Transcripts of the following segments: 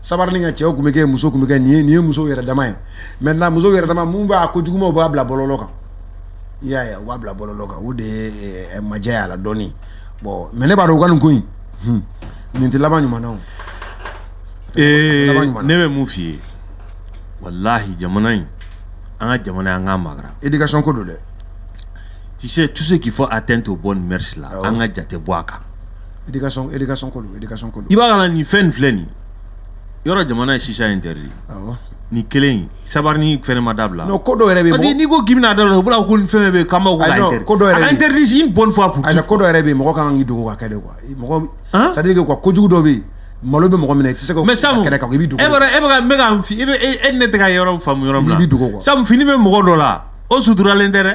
sabarini nka cɛw tun bɛ kɛ muso tun bɛ kɛ nin ye nin ye musow yɛrɛ dama ye maintenant musow yɛrɛ dama mun b'a ko jugumaw b'a bila bɔlɔlɔ kan i y'a ye u b'a bila bɔlɔlɔ kan o de ye eh, majɛ y'a la dɔɔni bon mais ne b'a dɔn u ka nin ko in hmm, nin tɛ laban ɲuman na o ee ne bɛ mun f'i ye walahi jamana in an ka jamana an k'a magara éducation ko don dɛ tu sais tout ce qu'il faut atteinte aux bonnes mœurs là an ka jate bɔ a kan éducation éducation ko don éducation ko don i b'a kana nin fɛn nin filɛ nin yɔrɔ jamana ye chicha interdit awɔ nin kelen in sabarini fɛnɛ ma dabila non ko dɔ yɛrɛ bɛ parce que n'i ko k'i bɛna dabila u b'a fɔ ko nin fɛn fɛn bɛ yen k'an b'a fɔ ka interdit ko dɔ yɛrɛ bɛ interdit une bonne fois pour tout ko dɔ yɛrɛ bɛ yen mɔgɔ ka kan k'i dogo ka kɛ de quoi mɔgɔ c'est à dire que quoi kojugu dɔ bɛ yen malo bɛ mɔgɔ minɛ i tɛ se ka kɛnɛ kan i bɛ dogo e b'a e bɛ ka n bɛ ka e bɛ e ni ne tɛ ka yɔrɔ faamu yɔrɔ min na i bɛ dogo quoi sabu fini bɛ mɔgɔ dɔ la o suturalen tɛ dɛ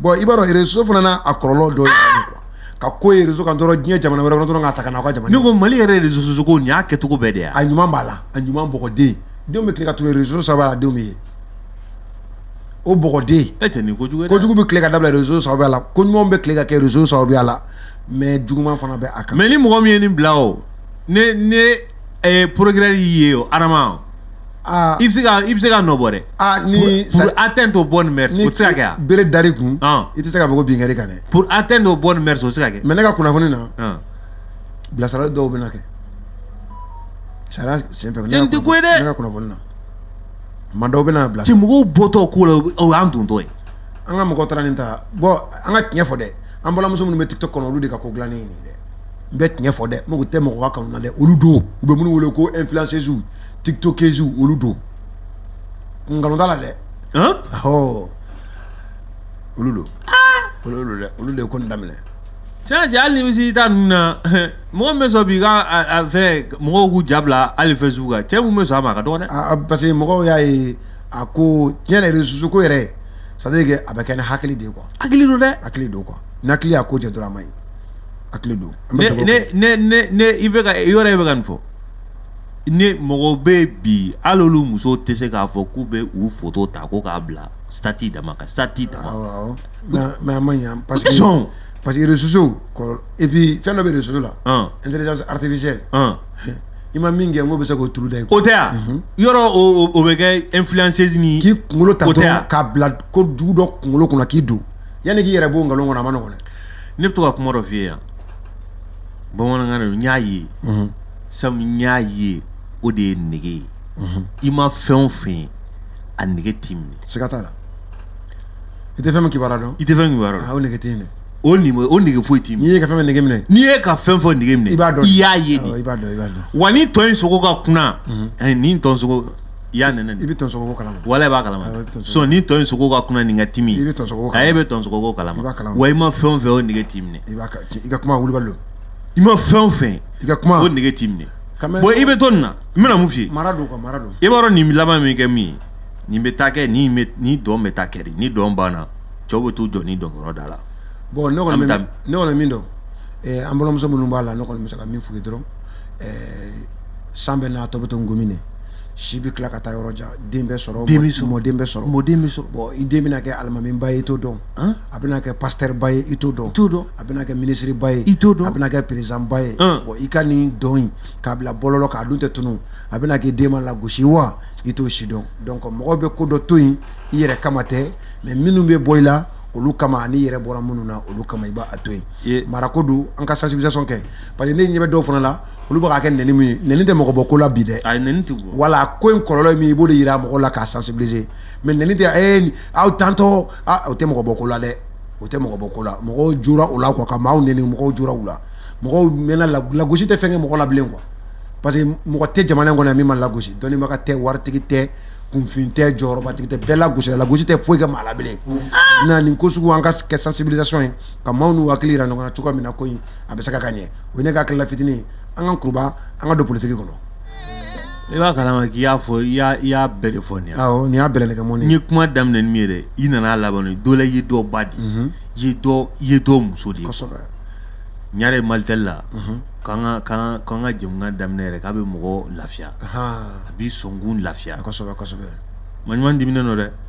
bon i b'a dɔn réseau fana n'a a kɔlɔlɔ dɔ ye ah! ka ko ye réseau kan dɔrɔn diɲɛ jamana wɛrɛ kɔnɔ dɔrɔn k'a ta ka na aw ka jamana ne ko mali yɛrɛ réseaux sociaux ko nin y'a kɛcogo bɛɛ de ye a ɲuman b'a la a ɲuman bɔgɔden denw bɛ tile ka tunun réseau sababuya la denw bɛ ye o bɔgɔden e tɛ nin kojugu ye kojugu bɛ tile ka dabila réseau sababuya la ko ɲumanw bɛ tile ka kɛ réseau sababuya la mais juguman fana bɛ a kan mais ni mɔgɔ min ye nin bila o ne ne Eh, procureur y'i ye o adama o. Aa i bɛ se ka i bɛ se ka nɔ bɔ dɛ. Aa ni pour atteindre aux bonnes mœurs o tɛ se ka kɛ a. Ni bere dar'i kun. Ɔn i tɛ se ka fɔ ko bin kɛr'i kan dɛ. Pour atteindre aux bonnes mœurs o tɛ se ka kɛ. Mais ne ka kunnafoni na. Ɔn bilasirali dɔw bɛ na kɛ. Sariya senfɛ. Cɛ nin tɛ ko ye dɛ. Ne ka kunnafoni na. Maa dɔw bɛ na bila. Cɛ mɔgɔw bɔtɔ ko la o y'an dontɔ ye. An ka mɔgɔ taara nin ta bon an ka tiɲɛ fɔ dɛ an balimamuso minnu bɛ tiktok kɔnɔ olu de ka ko dilannen ye nin ye dɛ. n bɛ tiɲɛ fɔ dɛ n mago tɛ mɔgɔ ka kanu na dɛ olu don u bɛ minnu wele ko influenceuses tiktokeuses olu don nkalon t'a la dɛ ɔhɔ olu don olu don dɛ olu de ye ko nin daminɛ tiɲɛ cɛ hali ni misiri ta ninnu na mɔgɔ min bɛ sɔn b'i ka a fɛn mɔgɔw k'u ja bila hali facebook kan cɛ mun bɛ sɔn a ma a ka dɔgɔ dɛ parce que mɔgɔw y'a ye a ko tiɲɛ yɛrɛ réseaux ko yɛrɛ c'est à dire que a bɛ kɛ ni hakili de ye quoi hakili don dɛ hakili don quoi ni hakili y'a ko jɛ dɔrɔn a man ɲi a hakili don ne i bɛ ka yɔrɔ e bɛ ka nin fɔ ne mɔgɔw bɛ bi hali olu musow tɛ se k'a fɔ k'u bɛ u foto ta ko k'a bila statut dama kan statut dama mais a ma ɲa parce que sɔn parce que réseaux sociaux et puis fɛn dɔ bɛ réseaux sociaux la intelligence artificielle i ma min kɛ mɔgɔ bɛ se k'o turu da yen o tɛ yan mhm. yɔrɔ o bɛ kɛ influenceuse ni k'i kunkolo ta dɔrɔn k'a bila ko jugu dɔ kunkolo kɔnɔ k'i don yanni k'i yɛrɛ b'o nkalon kɔnɔ a ma nɔgɔn dɛ ne bɛ to ka kuma dɔ f'i ye yan bamanankan na n y'a ye sabu n y'a ye o de ye nege ye i ma fɛn o fɛn ye a nege t'i minɛ siga t'a la i tɛ fɛn min kibaruya dɔn i tɛ fɛn kibaruya dɔn o nege t'i minɛ o nege o nege foyi t'i minɛ n'i ye ka fɛn fɛn nege minɛ n'i ye ka fɛn fɛn nege minɛ i b'a dɔn i y'a ye de i b'a dɔn i b'a dɔn wa ni tɔ in sogo ka kunan ani ni tɔ sogo i y'a nɛnɛ i bɛ tɔn sogo ko kalama wala i b'a kalama so ni tɔ in sogo ka kunan nin ka timi i bɛ tɔn sogo ko kalama e bɛ tɔn sogo ko kalama i b'a kalama wa i ma fɛn o fɛn o nege t'i minɛ i b'a i ka kuma wulibali don i ma fɛn o fɛn i ka kuma o nege t'i minɛ bon i bɛ to nin na n bɛna mun f'i ye mara don quoi mara don i b'a dɔn nin laban bɛ kɛ mun ye nin bɛ taa kɛ nin bɛ nin dɔn bɛ taa kɛ de ni dɔn banna cɛw bɛ t'u jɔ ni dɔn yɔrɔ da la bon ne kɔni bɛ ne kɔni min dɔn an balimamuso minnu b'a la ne kɔni bɛ se ka min f'u ye dɔrɔn san bɛ n'a tɔ bɛ to ngɔmi de si bɛ tila ka taa yɔrɔ jan den bɛ sɔrɔ den bɛ sɔrɔ mɔden bɛ sɔrɔ mɔden bɛ sɔrɔ bon i den bɛna kɛ alimamiba ye i t'o dɔn a bɛna kɛ pasitɛriba ye i t'o dɔn t'o dɔn a bɛna kɛ minisiriba ye i t'o dɔn a bɛna kɛ perezanba ye bon i ka nin dɔn in k'a bila bɔlɔlɔ kan a dun tɛ tunun a bɛna k'i den ma lagosi ye wa i t'o si dɔn donc mɔgɔ bɛ ko dɔ to yen i yɛrɛ kama tɛ mais minnu bɛ bɔ i la olu kama ani i yɛrɛ bɔra minnu na olu kama i b'a to yen marako don an ka sensibilisation kɛ parce que ne ɲɛ bɛ dɔw fana la olu bɛ k'a kɛ nɛni min ye nɛni tɛ mɔgɔ bɔ ko la bi dɛ ayi nɛni tɛ bɔ wala ko in kɔlɔlɔ ye min ye i b'o de yira mɔgɔw la k'a sensibiliser mais nɛni tɛ ee aw tantɔ a o tɛ mɔgɔ bɔ ko la dɛ o tɛ mɔgɔ bɔ ko la mɔgɔw jora o la quoi ka maaw nɛni mɔgɔw jora u la mɔgɔw mɛnna lagosi tɛ fɛn kɛ mɔgɔ la bilen quoi parce que mɔgɔ tɛ jamana in kɔnɔ yan min ma lagosi dɔnnibaga tɛ waritigi tɛ kunfin tɛ jɔyɔrɔbatigi tɛ bɛɛ lagosira lagosi tɛ foyi kɛ maa la bilen na nin ko sugu an ka kɛ sensibilisation ye ka maaw n'u hakili yira ɲɔgɔn na cogoya min na ko in a bɛ se ka ka ɲɛ o ye ne ka hakilila fitinin an ka kuruba an ka don politiki kɔnɔ i b'a kalama k'i y'a fɔ i y'a bɛɛ de fɔ nin awɔ nin y'a bɛɛ nɛgɛ mɔni ye kuma daminɛ ni min ye dɛ i nana laban ni dɔ la ye dɔ ba di mhm. ye dɔ ye dɔ muso de ye kosɛbɛ ɲare malitɛli la mhm. k'an ka k'an k'an ka jɛmukan daminɛ yɛrɛ k'a bɛ mɔgɔ lafiya a b'i sɔnkun lafiya kosɛbɛ kosɛbɛ maɲuman diminen don dɛ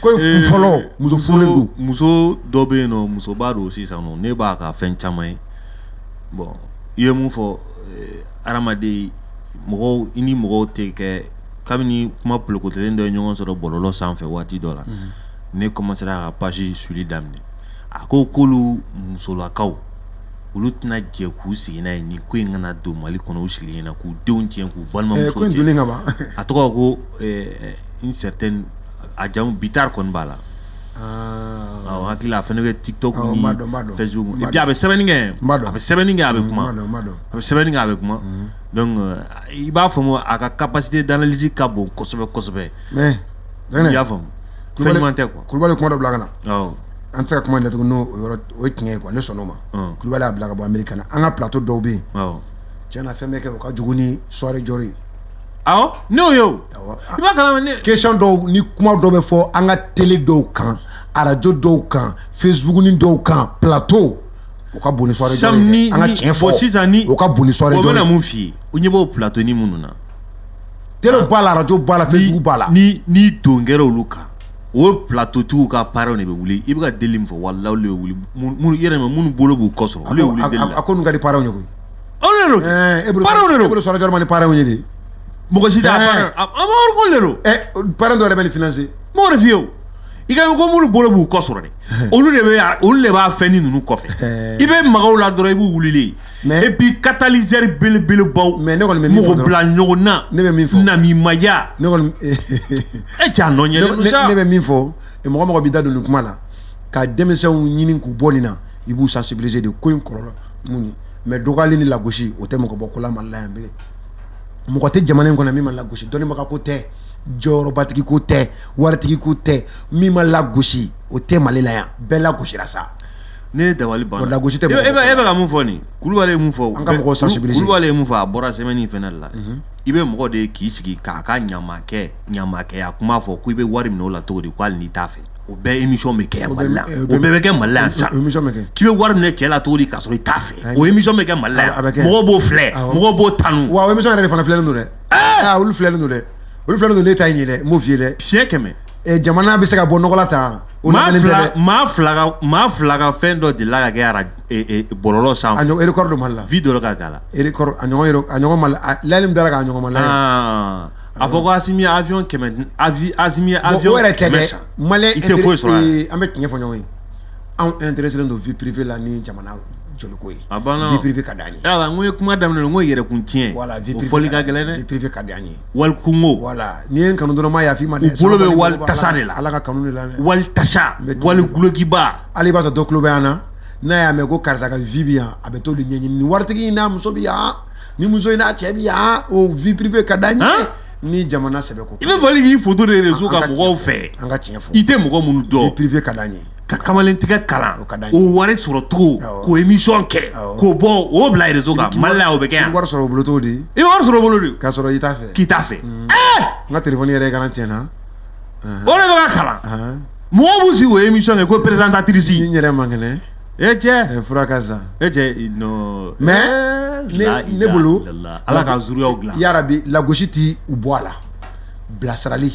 Ko in kun fɔlɔ muso muso dɔ bɛ yen nɔ musoba don sisan ne b'a ka fɛn caman ye bon i ye mun fɔ adamaden mɔgɔw i ni mɔgɔw tɛ kɛ kabini kuma polokotelen dɔ ye ɲɔgɔn sɔrɔ bɔlɔlɔ sanfɛ waati dɔ la ne commencera ka page suivre daminɛ a ko k'olu musolakaw olu tɛna jɛ k'u sigi n'a ye ni ko in kana don mali kɔnɔ u sigilen ɲɛna k'u denw tiɲɛ k'u balima ka a tɔgɔ ko une certaine a jamu bitar kɔni b'a la awɔ hakili la a fɛnɛ bɛ tiktok Awɔ, n b'a dɔn, n b'a ni dɔn. facebook N b'a et puis a bɛ sɛbɛnni kɛ N b'a dɔn. a bɛ sɛbɛnni kɛ a bɛ kuma Madon, madon. a bɛ sɛbɛnni kɛ a bɛ kuma donc euh, i b'a faamu a ka capacité d'analyse ka bon kosɛbɛ kosɛbɛ Mais, i y'a faamu fɛn Kulubali- ɲuman tɛ quoi Kulubali kuma dɔ bila ka na. awɔ An tɛ se ka kuma in datugu n'o o yɔrɔ o ye tiɲɛ ye quoi, ne sɔnn'o ma. Ɔn. Kulubali y'a bila ka bɔ Ameriki ka na. An ka plateau dɔw bɛ yen, awɔ tiɲɛ na fɛn bɛ kɛ o ka jugu ni soirée Dior ye. awɔ ne y'o ye o i b'a kalama ne question dɔw ni kuma dɔw bɛ fɔ an ka tele dɔw kan arajo dɔw kan facebook ni dɔw kan plateau o ka bon ni soirée Dior ye dɛ an ka tiɲɛ fɔ sisan ni o ka bon ni soirée Dior ye o bɛna mun f'i ye u ɲɛ b'o plateau ni minnu na tele b'a la arajo b'a la facebook b'a la ni ni don kɛra olu kan o plateau tigiw ka parents de bɛ wuli i bɛ ka deli min fɔ walayi olu de bɛ wuli minnu yɛrɛ ma minnu bolo b'u kɔ sɔrɔ olu de bɛ wuli deli la a ko ninnu ka di parents ye koyi olu de don parents de don e bolo soirée Dior man di parents ye de mɔgɔ si t'a parent a ma wari ko le don ɛ parent dɔ yɛrɛ bɛ nin financer m'o de f'i ye o i ka ko minnu bolo b'u kɔ sɔrɔ dɛ olu de bɛ olu de b'a fɛn ni ninnu kɔfɛ i bɛ maga u la dɔrɔn i b'u wulilen ye et puis catalyseur belebelebaw mais ne kɔni bɛ min fɔ mɔgɔ bila ɲɔgɔn na ne bɛ min fɔ namimaya ne kɔni e cɛ a nɔ yelen don sa ne bɛ min fɔ mɔgɔ mɔgɔ b'i da don nin kuma la ka denmisɛnw ɲini k'u bɔ nin na i b'u sensibiliser de ko in kɔlɔlɔ mun ye mais dɔgɔyali ni lagosi o tɛ mɔgɔ bɔ ko la Mali la yan bilen mɔgɔ tɛ jamana in kɔnɔ min ma lagosi dɔnnibaga ko tɛ jɔyɔrɔbatigi ko tɛ waritigi ko tɛ min ma lagosi o tɛ mali la yan bɛɛ lagosira sa ne ye dabali ban lagosi tɛ e bɛ e ka mun fɔ nin kulubali ye mun fɔ an ka mɔgɔ sensibiliser kulubali ye mun fɔ a bɔra semaine in fana la mhm. i bɛ mɔgɔ de k'i sigi k'a ka ɲamakɛ ɲamakɛya kuma fɔ ko i bɛ wari minɛ o la cogo di ko hali n'i t'a fɛ o bɛɛ émission bɛ kɛ yan mali la o bɛɛ bɛ kɛ mali la yan sisan k'i bɛ wari minɛ cɛ la cogo di k'a sɔrɔ i t'a fɛ o émission bɛ kɛ mali la yan mɔgɔw b'o filɛ mɔgɔw b'o tanu wa o émission yɛrɛ de fana filɛlen don dɛ aa olu filɛlen don dɛ olu filɛlen don ne ta in ye dɛ n b'o f'i ye dɛ siɲɛ kɛmɛ jamana bɛ se ka bɔ nɔgɔ la tan maa fila maa fila ka maa fila ka fɛn dɔ delila ka kɛ ara bɔlɔlɔ sanfɛ a ɲɔgɔn record dɔ mali la vue dɔ ka k'a la record a ɲɔgɔn a ɲɔgɔn mali la lajɛli min dara k'a ɲɔgɔn mali la A fɔ ko Asimi ye avion kɛmɛ di avi Asimi ye avion o yɛrɛ tɛ dɛ kɛmɛ san. maliyɛn I tɛ foyi sɔrɔ a la. ee, an bɛ tiɲɛ fɔ ɲɔgɔn ye anw intéressélen don vie privée la ni jamana jɔliko ye A banna o. vie privée ka d'an ye Yala n ko ye kuma daminɛ n ko yɛrɛkun tiɲɛ voilà vie o privée fɔli ka d'an ye. gɛlɛn vie dɛ privée ka d'an ye wali kungo voilà n'i ye n kanu dɔrɔn n m'a yafa i ma dɛ u bolo bɛ Sabali wali bolo b'a tasa de la ala ka kanu de la dɛ wali tasa N bɛ wali tugu- gulɔkiba hali i b'a sɔrɔ dɔ tulo bɛ an na n'a y'a mɛn ko karisa ka vie bi yan a bɛ t'o de ɲɛɲini nin waritigi in n'a muso bi yan ni muso in n'a cɛ bi yan o vie privée ka d'an ye ni jamana sɛbɛ ko i bɛ bali k'i foto de réseau kan mɔgɔw fɛ an ka tiɲɛ fɔ i tɛ mɔgɔ minnu dɔn vie privée ka d'an ye ka kamalentigɛ kalan o wari sɔrɔ cogo k'o émission kɛ k'o bɔ o bila réseau kan mali la o bɛ kɛ yan wari sɔrɔ o bolo cogo di i bɛ wari sɔrɔ o bolo di k'a sɔrɔ i t'a fɛ k'i t'a fɛ n ka telefɔni yɛrɛ kana tiɲɛ n na o de bɛ ka kalan mɔgɔw b'u sigi o émission kɛ ko présentatrice n yɛrɛ man kɛnɛ e cɛ e fura ka zan e cɛ non mais ne ne bolo ala ka zuriyaw dilan yarabi lagosi tɛ u bɔ a la bilasirali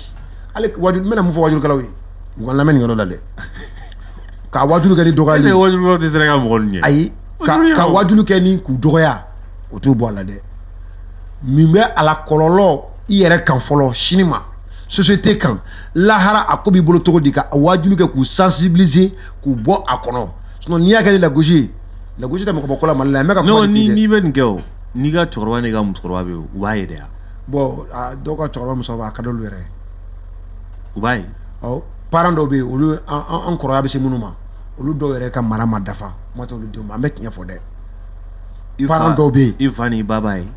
hali wajulu n bɛna mun fɔ wajulukɛlaw ye u ka lamɛn nin yɔrɔ la dɛ ka wajulu kɛ ni dɔgɔya ye wajulu tɛ se ka mɔgɔ ɲɛ ayi ka wajulu kɛ ni k'u dɔgɔya o t'u bɔ a la dɛ min bɛ a la kɔlɔlɔ i yɛrɛ kan fɔlɔ sini ma société kan lahara a ko b'i bolo cogo di ka wajulu kɛ k'u sensibiliser k'u bɔ a kɔnɔ sinon n'i y'a kɛ ni lagosi ye lagosi tɛ mɔgɔ bɔ ko la mali la n bɛ ka kuma nin de f'i ye. n'i bɛ nin kɛ o n'i ka cɛkɔrɔba n'i ka musokɔrɔba bɛ yen u b'a ye dɛ ah bon a dɔw ka cɛkɔrɔba musokɔrɔba a ka d'olu yɛrɛ ye u b'a ye ɔ parent dɔw bɛ yen olu an an- an kɔrɔya bɛ se minnu ma olu dɔw yɛrɛ ka mara ma dafa kuma t'olu denw ma an bɛ tiɲɛ fɔ dɛ I fa- parent dɔw bɛ yen i fa n'i ba b'a ye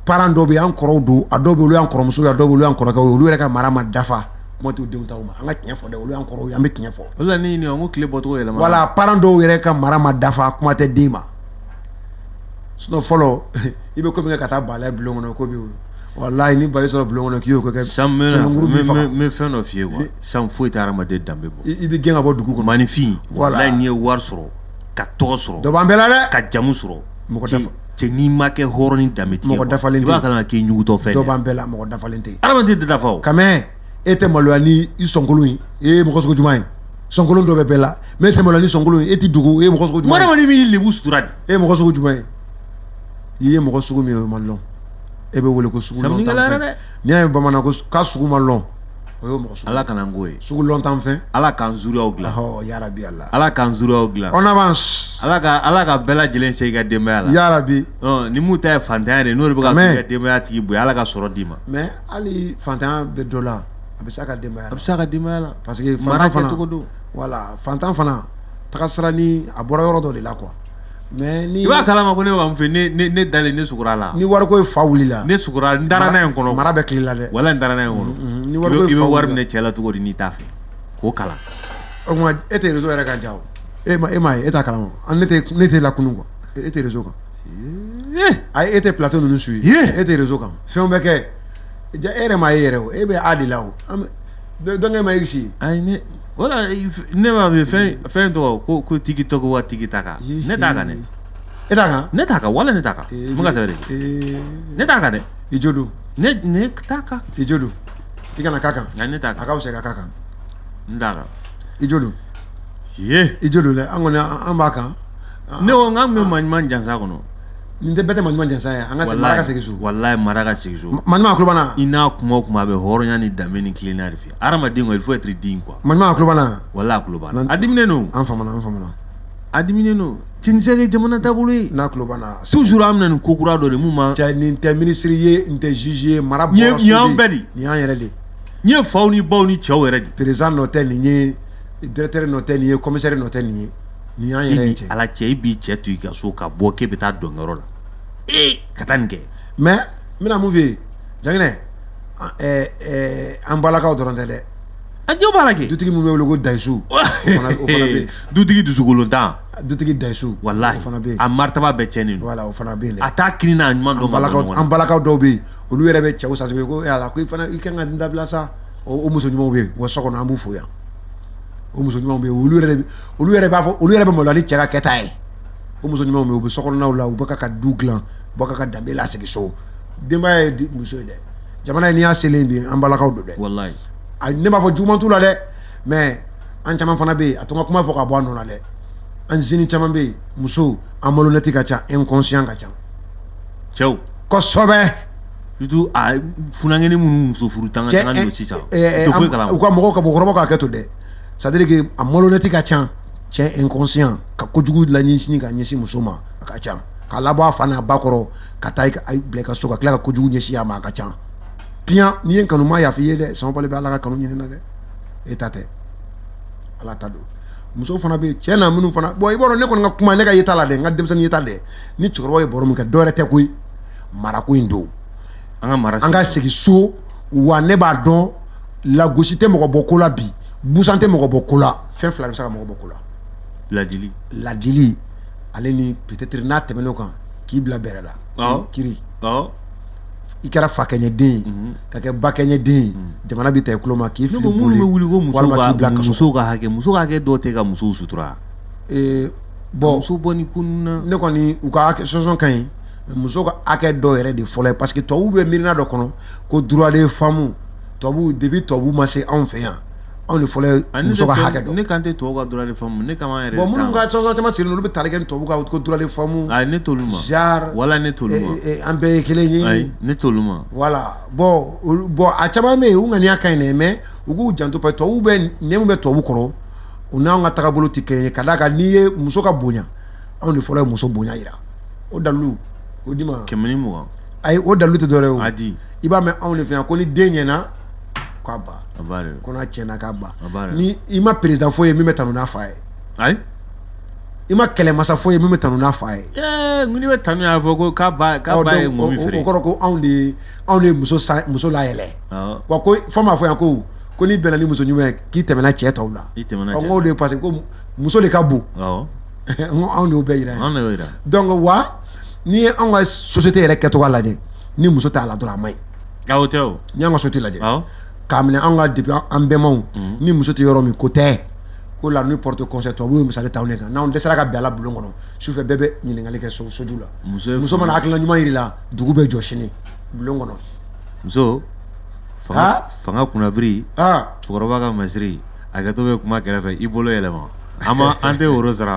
parent dɔw bɛ yen an kɔrɔw don a dɔw bɛ yen olu y'an kɔrɔmuso ye a dɔw bɛ yen olu y'an kɔrɔkɛw ye olu yɛrɛ ka mara ma dafa kuma t'u denw ta ma an ka tiɲɛ fɔ dɛ olu y'an kɔrɔw ye an bɛ tiɲɛ fɔ olu la ne ɲininka ko tile bɔcogo yɛlɛma voilà parent dɔw yɛrɛ ka mara ma dafa kuma tɛ den ma sinon fɔlɔ i bɛ ko min kɛ ka taa bala ye bulon kɔnɔ ko b'i wolo walayi ni ba y'i sɔrɔ bulon kɔnɔ k'i y'o ko kɛ san bɛ fɛn dɔ f'i ye quoi san foyi tɛ hadamaden danbe bɔ i bɛ gɛn ka bɔ dugu kɔnɔ maninfin walayi n'i ye wari sɔrɔ ka tɔgɔ sɔrɔ dɔ b'an bɛɛ la dɛ ka jamu sɔrɔ mɔgɔ tɛ cɛ n'i ma kɛ hɔrɔn ni danbe tigi ye quoi. Mɔgɔ dafalen tɛ. I b'a kalama k'i ɲugutɔ fɛn dɔ b'an bɛɛ la mɔgɔ dafalen tɛ Hadamaden tɛ dafa o. quand même e tɛ maloya ni i sɔnkolon ye e ye mɔgɔ sugu juma ye sɔnkolon dɔ bɛ bɛɛ la mais e tɛ maloya ni sɔnkolon ye e tɛ dogo e ye mɔgɔ sugu juma ye Hadamaden b'i lebu sutura de. e ye mɔgɔ sugu juma ye i ye mɔgɔ sugu min ye o ma lɔn e bɛ wele ko sugu lɔntan fɛn. Samiyɛlɛ yɛrɛ dɛ. n'i y'a ye bamanan ko s- k'a sugu ma lɔn o y'o mɔgɔ sugu Ala kana n k'o ye sugu lɔntan fɛn Ala k'an zuriyaw dilan ɔhɔ yarabi Ala Ala k'an zuriyaw dilan on avance Ala ka Ala ka bɛɛ lajɛlen se i ka denbaya la yarabi ɔ ni mun ta ye fantanya de ye n'o de bɛ ka Amen. k'i ka denbaya tigi bonya Ala ka sɔrɔ d'i ma mais hali fantanya bɛ dɔ la a bɛ s'a ka denbaya la a bɛ s'a ka denbaya la parce que mara fantan fana kɛcogo don voilà fantan fana tagasira ni a bɔra yɔrɔ dɔ de la quoi Mais ni i b'a kalama ko ne bɛ ka mun fɔ ne ne ne dalen ne sugura la ni wariko ye fa wulila ne sugura n dara n'a ye n kɔnɔ mara bɛ tile la dɛ wala n dara n'a ye n kɔnɔ mm, mm, ni wariko i bɛ wari minɛ cɛ la cogo di n'i t'a fɛ k'o kalan o tuma e tɛ réseau yɛrɛ kan ja o e ma e m'a ye e t'a kalama an ne tɛ ne tɛ lakunu quoi e tɛ réseau kan ayi e tɛ plateau ninnu suit e tɛ réseau kan fɛnw bɛ kɛ ja e yɛrɛ m'a ye yɛrɛ o e bɛ a de la o dɔnkɛ ma i si ayi ne wala ne b'a fɛ fɛn fɛn tɔgɔ ko ko tigi tɔgɔ wa tigi ta kan ne t'a kan dɛ e t'a kan ne t'a kan wala ne t'a kan n bɛ ka sɛbɛn de ne t'a kan dɛ i jo don ne ne t'a kan i jo don i kana k'a kan nka ne t'a kan a ka fisa i ka k'a kan n t'a kan i jo don ye i jo don dɛ an kɔni an b'a kan ne ko n k'an bɛ maɲuman jansa kɔnɔ nin tɛ bɛɛ tɛ maɲuman jansa ye an ka segin mara ka segin so walayi mara ka segin so maɲuman a kulobana i n'a kuma o kuma a bɛ hɔrɔnya ni danbe ni tilennenya de fɛ hadamaden kɔni il faut être digne quoi maɲuman a kulobana walayi a kulobana a diminen don an famana an famana a diminen don tinisɛ ye jamana taabolo ye n'a kulobana toujours an bɛ na ni ko kura dɔ de mun ma cɛ nin tɛ ministre ye nin tɛ juge ye mara bɔra so de nin y'an bɛɛ de nin y'an yɛrɛ de nin ye faw ni baw ni cɛw yɛrɛ de président nɔ tɛ nin ye directeur nɔ tɛ nin ye commissaire nɔ tɛ nin ye Nin y'an yɛrɛ ye cɛ. Ala cɛ e b'i cɛ to i ka so ka bɔ k'e bɛ taa dɔn yɔrɔ la ee ka taa nin kɛ. Mais n bɛna mun f'i ye Janginɛ ɛɛ ɛɛ an balakaw dɔrɔn tɛ dɛ. A cɛw b'a la kɛ. Dutigi min bɛ wele ko Dayisu. o fana o fana bɛ yen. Dutigi dusukolontan. Dutigi Dayisu. Walahi o fana bɛ yen. A maritaba bɛɛ cɛnnen don. Voilà o fana bɛ yen dɛ. A t'a kinin n'a numan dɔn. An balakaw an balakaw dɔw bɛ yen olu yɛrɛ bɛ cɛw sasibe ko e Ala ko i fana i ka kan ka nin dabila sa o muso ɲumanw bɛ yen wa so kɔnɔ an b'u fo yan. o muso ɲumanw bɛ olu yɛrɛ olu yɛrɛ b'a fɔ olu yɛrɛ bɛ malo ni cɛ ka kɛta ye o muso ɲumanw bɛ u bɛ sokɔnɔnaw la u bɛ k'a ka du dilan u bɛ k'a ka danbe lasigi so denbaya ye muso ye dɛ jamana in n'i y'a selen bi an balakaw don dɛ walayi a ne b'a fɔ juguman t'u la dɛ mais an caman fana bɛ yen a to n ka kuma fɔ ka bɔ a nɔ na dɛ an jeunes caman bɛ yen musow an malhonnête ka ca inconscient ka ca cɛw kosɛbɛ surtout a funankɛnin minnu muso furu tanga tanga don sisan u tɛ foyi kalama u ka mɔgɔw ka mɔgɔkɔrɔbaw ka hakɛ to dɛ c'est à dire que a malhonnête ka ca cɛ inconscient ka kojugu laɲɛsin ka ɲɛsin muso ma a ka ca k'a labɔ a fa n'a ba kɔrɔ ka t'a bila i ka so ka tila ka kojugu ɲɛsin a ma a ka ca piyan n'i y'a kɛ n'u ma yafa i ye dɛ sanwó-bali bɛ ala ka kanu ɲini na dɛ e ta tɛ ala ta don muso fana bɛ cɛ na minnu fana bon i b'a dɔn ne kɔni ka kuma ne ka yeta la dɛ n ka denmisɛnnin yeta dɛ ni cɛkɔrɔba ye baro min kɛ dɔwɛrɛ tɛ koyi marako in don an ka mara an ka segin so wa ne b'a dɔn lagosi tɛ mɔgɔ bɔ ko la bi busan tɛ mɔgɔ bɔ ko la fɛn fila de bɛ se ka mɔgɔ bɔ ko la ladili ladili ale ni peut-être n'a tɛmɛn'o kan k'i bila bɛrɛ la Awɔ. kiri Awɔ. i kɛra fa kɛɲɛ den ye Mhm. ka kɛ ba kɛɲɛ den ye jamana bɛ ta i kulo ma k'i ne fili ko minnu boli bɛ wuli ko musow walima ka k'i bila kaso musow ka hakɛ musow ka hakɛ dɔw tɛ ka musow sutura Eh, bon muso bɔ ni ko ninnu na ne kɔni u ka sɔsɔn ka ɲi muso ka hakɛ dɔw yɛrɛ de fɔlɔ ye parce que tubabuw bɛ miirina dɔ kɔnɔ ko droit de femme tubabuw depuis tubabuw ma se anw fɛ yan anw de fɔlɔ ye ah, muso ka hakɛ dɔn ne kan tɛ tubabuw ka droit de femme de kan yɛrɛ bon minnu ka association caman sigilen olu bɛ tali kɛ ni tubabuw ka ko droit de femme ayi ne t'olu ma genre wala ne t'olu ma eh, eh, an bɛɛ ye kelen ye ayi ne t'olu ma voilà bon bon a caman bɛ yen u ŋaniya ka ɲi dɛ mais u k'u janto parce que tubabuw bɛ nɛn min bɛ tubabuw kɔrɔ u n'anw ka tagabolo tɛ kelen ye ka d'a kan n'i ye muso ka bonya anw de fɔlɔ ye muso bonya yira o dalu o di ma kɛmɛ mugan ayi o dalu tɛ dɔwɛrɛ o di i b'a mɛn anw de fɛ yan ko ni den ɲɛna k'a ba ko n'a tiɲɛna k'a ba ni i ma président foyi ye min bɛ tanu n'a fa ye ayi i ma kɛlɛmasa foyi ye min bɛ tanu n'a fa ye n'i bɛ tanu y'a fɔ ko k'a ba k'a ba ye ŋɔmi feere o kɔrɔ ko anw de ye anw de ye muso sa muso layɛlɛ wa ko fɔ an b'a fɔ yan ko ko n'i bɛnna ni muso ɲuman ye k'i tɛmɛna cɛ tɔw la i tɛmɛna cɛ tɔw la de parce que ko muso de ka bon n anw de y'o bɛɛ yira ye donc wa n'i ye anw ka société yɛrɛ kɛcogoya lajɛ ni muso t'a la dɔrɔn a man ɲi aw tɛ o n'i y'an ka société lajɛ k'a minɛ anw ka depuis an bɛnbaw mhm. ni muso tɛ yɔrɔ min ko tɛ ko la nuit porte conseil tubabuw ye misali ta anw de kan n'anw dɛsɛra ka bɛn a la bulon kɔnɔ sufɛ bɛɛ bɛ ɲininkali kɛ soju la muso mana hakilina ɲuman yir'i la dugu bɛ jɔ sini bulon kɔnɔ muso fanga kunnabiri cɛkɔrɔba ka masiri hakɛto bɛ kuma kɛrɛfɛ i bolo yɛlɛma an ma an tɛ woro sara